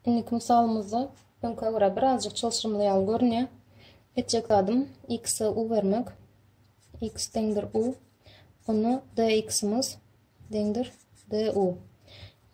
Indiki mysalymyzda öňkä görä birazjyk çylşyrymly ýaly görünýär. Etjek zadym x-e u bermek. x deňdir u. Onda dx-imiz deňdir du.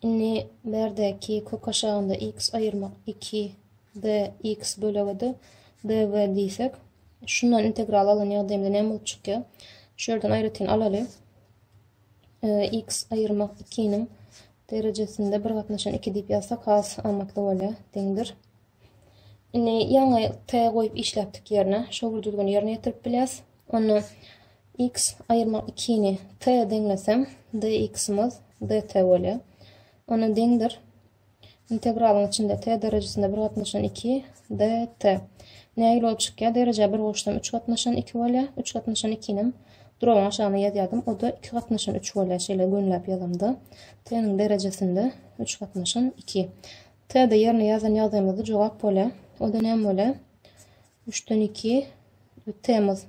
Indi berdäki kök aşagynda x aýyrmak 2 dx bölege-de dv diýsek, şundan integral alan ýagdaýymda näme bolup çykýar? Şu ýerden aýratyn alaly. x aýyrmak 2-niň Derejesinde bir gatnaşan iki diýip ýazsak has amatly bolýar. Deňdir. Indi ýaňy t goýup işläpdik ýerine şol bir düzgüni ýerine ýetirip bilýäs. Onda x aýyrmak 2 ni t deňlesem dx-myz dt bolýar. Onda deňdir. Integralyň içinde t derejesinde bir gatnaşan 2 dt. Nägile bolup çykýar? Dereje bir goşsam 3 gatnaşan 2 bolýar. 3 gatnaşan 2 nim Duragyň aşagyna ýazýardym, o-da iki gatnaşan üç bolýar, şeýle gönläp ýazamda, T-niň derejesinde üç gatnaşan iki. T-de ýerine ýazan ýagdaýymyzda jogap bolýar. O-da näme bolýar? Üçden iki, T-miz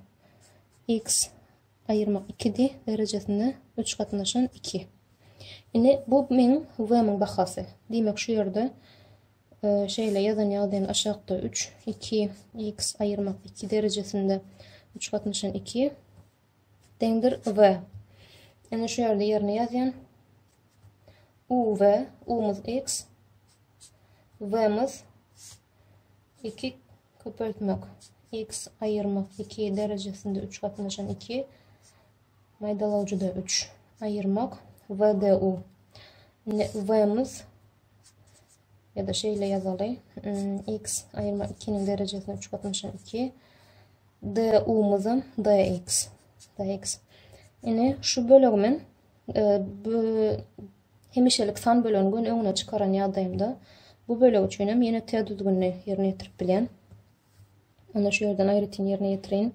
X aýyrmak ikidi, derejesinde üç gatnaşan iki. Indi bu meň V-miň bahasy. Diýmek, şu ýerde Şeýle ýazan ýagdaýynda aşakda üç, iki, x aýyrmak iki derejesinde üç gatnaşan iki deňdir v. Indi şu ýerde ýerine ýazýan. U v, umuz x, vmiz iki köpeltmek x aýyrmak iki derejesinde üç gatnaşan iki maýdalawjyda üç aýyrmak vdu. Vmiz Ya da şeýle ýazaly. X aýyrma 2-niň derejesine 3 gatnaşan 2. D umuzam dx. Dx. Ine şu bölegi men e, bu hemişelik san bölegini gün öňüne çykaran ýagdaýymda bu bölek üçin hem ýene T düzgünini ýerine ýetirip bilýän. Onda şu ýerden aýratyn ýerine ýetirin.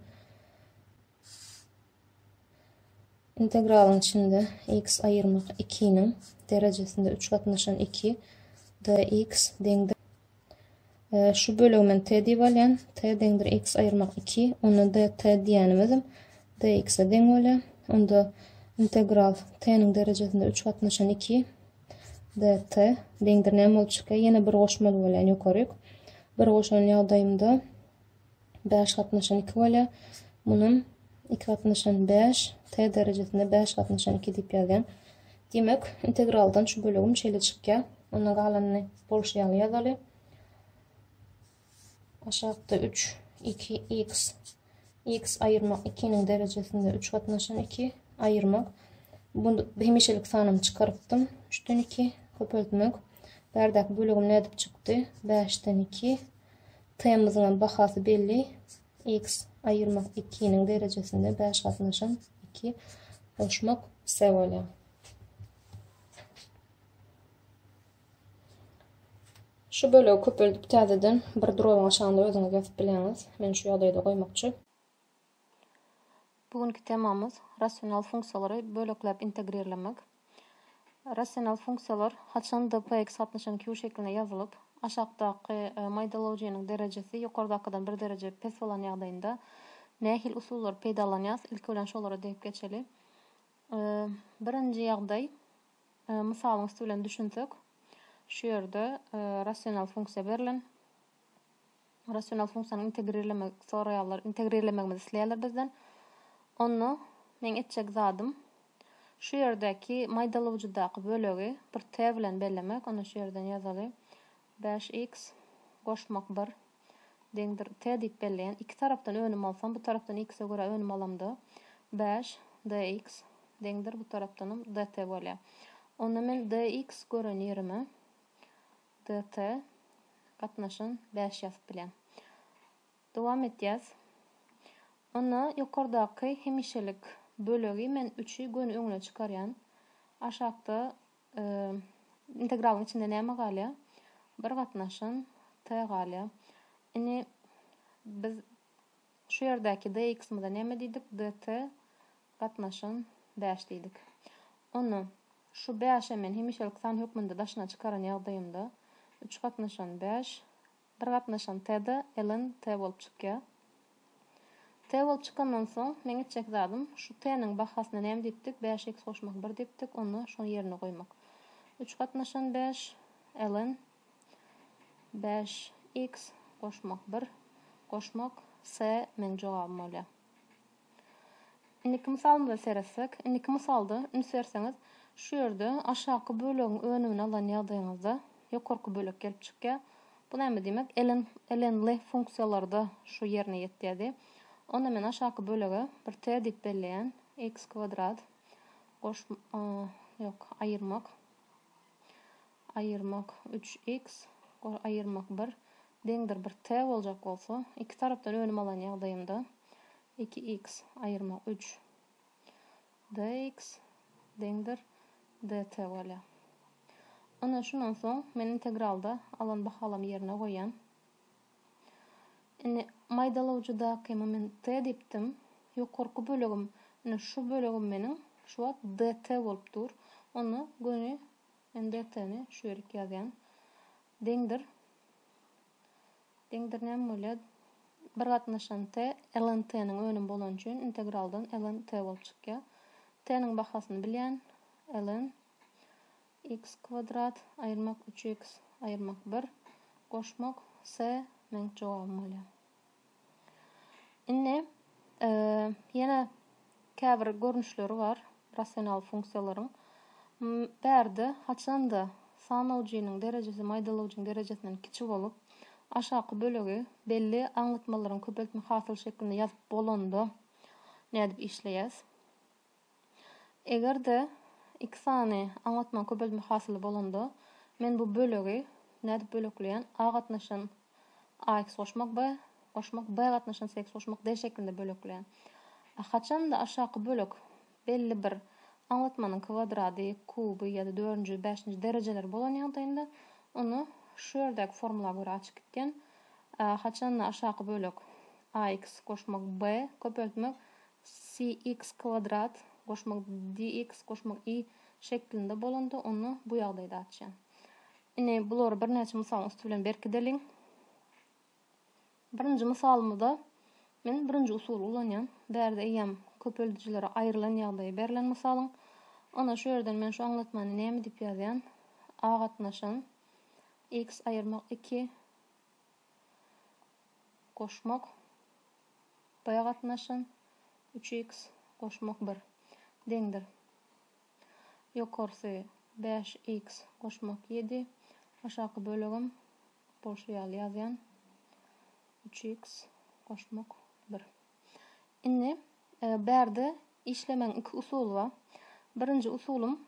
Integralyň içinde x aýyrmak ikiniň derejesinde üç gatnaşan iki dx deňdir şu bölegi men t diýip alýan. T deňdir x aýyrmak iki. Onda dt diýenimizim dx-e deň bolýar. Onda integral t-niň derejesinde üç gatnaşan iki dt deňdir näme bolup çykýar? Ýene bir goşmaly bolýan ýokaryk. Bir goşan ýagdaýymda bäş gatnaşan iki bolýar. Munam iki gatnaşan bäş, t derejesinde bäş gatnaşan iki diýip ýazýan. Diýmek, integraldan şu bölegim şeýle çykýar. Onda galanyny bolşy ýaly ýazaly. Aşakda üç, iki, x, x aýyrmak ikiniň derejesinde üç gatnaşan iki, aýyrmak. Bu hemişelik sanymy çykarypdym. Üçden iki, köpeltmek. Bärdäki bölegim nädip çykdy? Bäşden iki, T-myzyňam bahasy belli, X aýyrmak ikiniň derejesinde bäş gatnaşan iki goşmak S bolýar. Şu bölegi köpeldip täzeden bir duralga şanda özüňiz ýazyp bileňiz. Men şu ýagdaýda goýmakçy. Bu günki temamyz rasional funksiýalary bölekläp integrirlemek. Rasional funksiýalar haçanda px gatnaşygynyň Q şekline ýazylyp, aşakdaky maýdalawjynyň derejesi ýokardakydan bir dereje pes bolan ýagdaýynda nähili usullary peýdalanýas, ilki bilen şolara degip geçeli. Birinji ýagdaý, mysalyň üsti bilen düşünsek, şu ýerde rasional funksiýa berlen. Rasional funksiýany integrirlemek soraýarlar. Integrirlemegimizi isleýärler bizden. Onda meň etjek zadym şu ýerdäki maýdalawjydaky bölegi bir t bilen bellemek. Onda şu ýerden ýazaly. Bäş x goşmak bir deňdir t diýip belleýän. Iki tarapdan önüm alsam, bu tarapdan x-e görä önüm alamda, bäş dx deňdir bu tarapdanam dt bolýar. Onda men dx gören ýerime DT, Gatnaşyn bäş ýazyp bilen. Dowam etýäs. Onda ýokardaky hemişelik bölegi men üçi göni öňüne çykarýan. Aşakda integralyň içinde näme galýar? Bir gatnaşyn T galýar. Indi biz Şu ýerdäki DX-myza näme diýdik? DT gatnaşan bäş diýdik. Onda, şu bäşe men hemişelik san hökmünde daşyna çykaran ýagdaýymda, üç gatnaşan bäş, bir gatnaşan T-de ln T bolup çykýar. T bolup çykandan soň, meň etjek zadym, şu T-niň bahasyna näme diýipdik? Bäşe x goşmak bir diýipdik. Onda, şony ýerine goýmak. Üç gatnaşan bäş, ln. Bäş x goşmak bir goşmak s meň jogabym bolýar. Indiki mysalymyza seretsek, indiki mysalda üns berseňiz, şu ýerde aşaky bölegiň önümini alan ýagdaýyňyzda ýokarky bölek gelip çykýar. Bu näme diýmek? Ln, lnly funksiýalarda şu ýerine ýetýärdi. Onda men aşaky bölege bir t diýip belleýän, x kwadrat goş, ýok, aýyrmak. Aýyrmak üç iks, ol aýyrmak bir, deňdir bir t boljak bolsa, iki tarapdan önüm alan ýagdaýymda, iki iks aýyrmak üç dx deňdir dt bolýar. Ine, şundan soň men integralda alan bahalamy ýerine goýýan. Indi maýdalawjydaky moment t diýipdim. Ýokarky bölegim, ine şu bölegim meniň şu wagt dt bolup dur. Onda göni Men depderini şu ýerik ýazýan. Deňdir. Deňdir näme bolýar? Bir gatnaşan t ln t-niň önümi bolany üçin integraldan ln t bolup çykýar. T-niň bahasyny bilýän. Ln x kwadrat aýyrmak üç x aýyrmak bir goşmak s meň jogabym bolýar. Indi ýene käbir görnüşleri bar rasional funksiýalaryň. Bärde haçanda sanawjynyň derejesi maýdalawjyň derejesinden kiçi bolup, aşaky bölegi belli aňlatmalaryň köpeltme hasyly şeklinde ýazyp bolanda nädip işleýäs? Eger-de iki sany aňlatmaň köpeltme hasyly bolanda, men bu bölegi nädip bölekleýän, A gatnaşan AX goşmak B goşmak, B gatnaşan CX goşmak D şeklinde bölekleýän. Haçan-da aşaky bölek belli bir aňlatmanyň kwadrady, kuby ýa-da dördünji, bäşinji derejeleri bolan ýagdaýynda, onda şu ýerdäki formula görä açyk gitgen, haçan-da aşaky bölek AX goşmak B köpeltmek CX2 goşmak DX goşmak Y şeklinde bolanda onda bu ýagdaýda açýan. Indi bulary birnäçe mysalyň üsti bilen berkideliň. Birinji mysalymyzda men birinji usuly ulanýan. Bärde eýýäm köpeldijilere aýrylan ýagdaýy berlen mysalyň. Onda şu ýerden men şu aňlatmany näme diýip ýazýan? A gatnaşan X aýyrmak 2 goşmak Bä gatnaşan, üç iks goşmak bir, deňdir. Ýokarsy, bäş iks goşmak ýedi, aşaky bölegem bolşy ýaly ýazýan, üç iks goşmak bir. Indi, bärde işlemegiň iki usuly bar. Birinji usulym.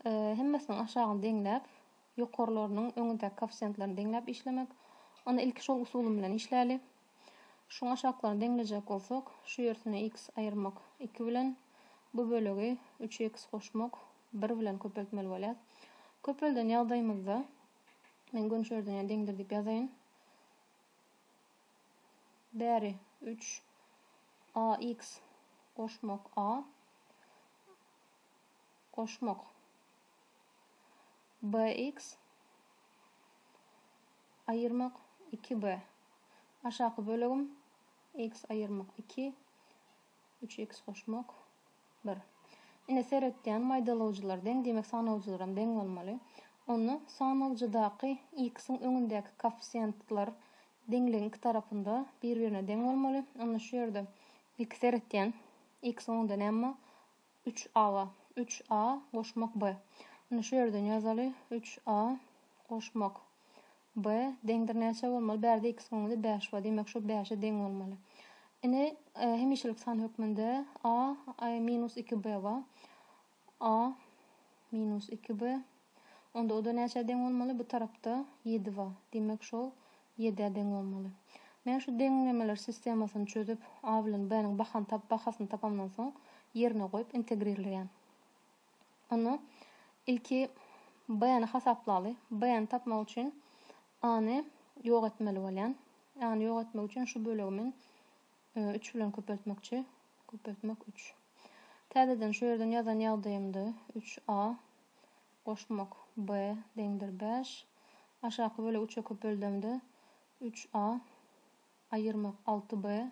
Hemmesiniň aşagyny deňläp, ýokarlarynyň öňündäki koeffisiýentlerini deňläp işlemek. Onda ilki şol usulym bilen işläli. Şuň aşaklaryny deňlejek bolsak, şu ýersine x aýyrmak iki bilen, bu bölegi üç x goşmak bir bilen köpeltmeli bolýar. Köpelden ýagdaýymyzda, men gönçerden ýa deňdir diýip ýazaýyn. Bäri üç a x goşmak a. goşmak. BX aýyrmak iki B. Aşaky bölegim X aýyrmak iki, üç X goşmak bir. Ine seretýän maýdalawjylar deň diýmek sanawjylaram deň bolmaly. Onda sanawjydaky X-iň öňündäki koeffisiýentler deňligiň iki tarapynda bir birine deň bolmaly. Onda şu ýerde ilki seretýän X-iň öňünde näme bar? Üç aga, üç a goşmak b. Indi şu ýerden ýazaly, üç a goşmak b deňdir näçä bolmaly? Bärde x göňüde bäş bar, diýmek şo bäşe deň bolmaly. Ine, hemişelik san hökmünde a minus iki b bar. A minus iki b Onda oda näçä deň bolmaly bu tarapda ýedi ba, diýmek şol ýedä deň bolmaly. Men şu deňlemeler sistemasyny çözüp a bilen b niň bahany tap bahasyny tapamdan soň ýerine goýup integrirleýän. Onda ilki b ni hasaplaly. B ni tapmak üçin a ny ýok etmeli bolýan. A ny ýok etmek üçin şu bölegi men Üç bilen köpeltmekçi. Köpeltmek üç. Täzeden şu ýerden ýazan ýagdaýymda üç a goşmak b deňdir bäş. Aşaky bölegi üçe köpeldemde üç a aýyrmak alty b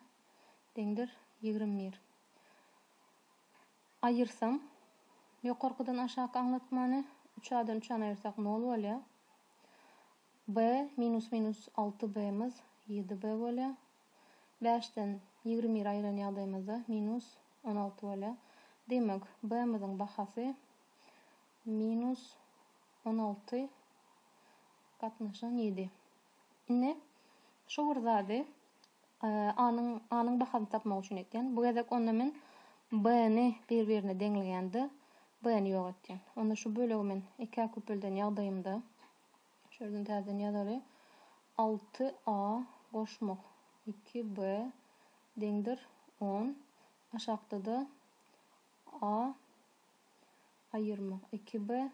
deňdir ýigrimi bir. Aýyrsam ýokarkydan aşaky aňlatmany üç a-dan üç a-ny aýyrsak nol bolýar. B minus minus alty b-miz ýedi b bolýar. Bäşden ýigrimi bire aýyran ýagdaýymyzda minus on alty bolýar. Diýmek, B-miziň bahasy minus on alty gatnaşan ýedi. Indi şu bir zady A-nyň A-nyň bahasyny tapmak üçin etýän. Bu gezek onda men B-ni bir-birine deňleýän-de, B-ni ýok etýän. Onda şu bölegi men ikä köpelden ýagdaýymda Şu ýerden täzeden ýazaly. Alty a goşmak iki b deňdir on. Aşakda-da a aýyrmak iki b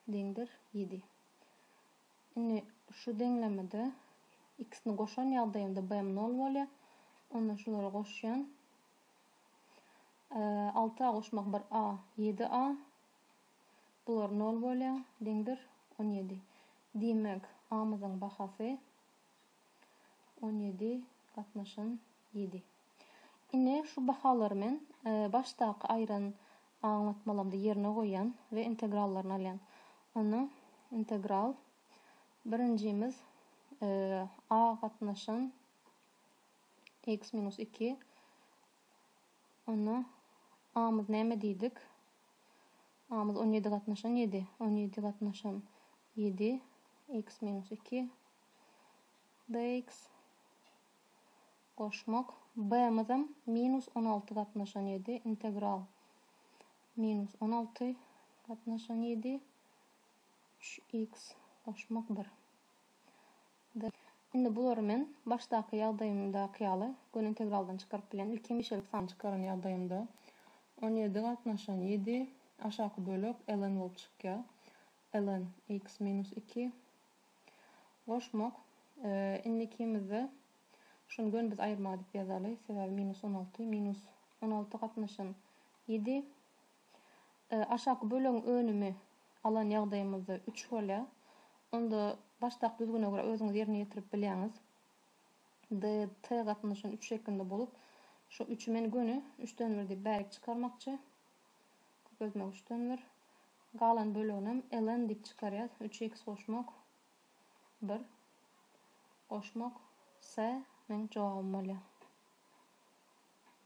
deňdir ýedi. Indi şu deňlemede x-ni goşan ýagdaýymda b-m nol bolýar. Onda şulary goşýan. Alty a goşmak bir a ýedi a. Bular nol bolýan, deň bir, on ýedi. Diýmek, A-myzyň bahasy on ýedi gatnaşan ýedi. Ine, şu bahalary men başdaky aýran aňlatmalamda ýerine goýýan we integrallaryny alýan. Onda integral birinjimiz A gatnaşan x minus iki Onda amyz näme diýdik? Amyz on ýedi gatnaşan ýedi. On ýedi gatnaşan ýedi, iks minus iki, bx. Goşmak. B-myzam minus on alty gatnaşan ýedi, integral minus on alty gatnaşan ýedi, üç iks goşmak bir. Dy. Indi bulary men başdaky ýagdaýymdaky ýaly göni integraldan çykaryp bilýän. Ilki hemişelik sany çykaran ýagdaýymda on ýedi gatnaşan ýedi aşaky bölek ln bolup çykýar. Ln x minus iki goşmak. Indi ikimizde şuny göni biz aýyrma diýip ýazaly. Sebäbi minus on alty minus on alty gatnaşan ýedi. Aşaky bölegiň önümi alan ýagdaýymyzda üç bolýar. Onda başdaky düzgüne görä özüňiz ýerine ýetirip bilýäňiz. D, T gatnaşan üç şeklinde bolup, şu üçi men göni üçden bir diýip bärik çykarmakçy. Köpeltmek üçden bir. Galan böleginem ln diýip çykarýas. Üç x goşmak bir goşmak S meň jogabym bolýar.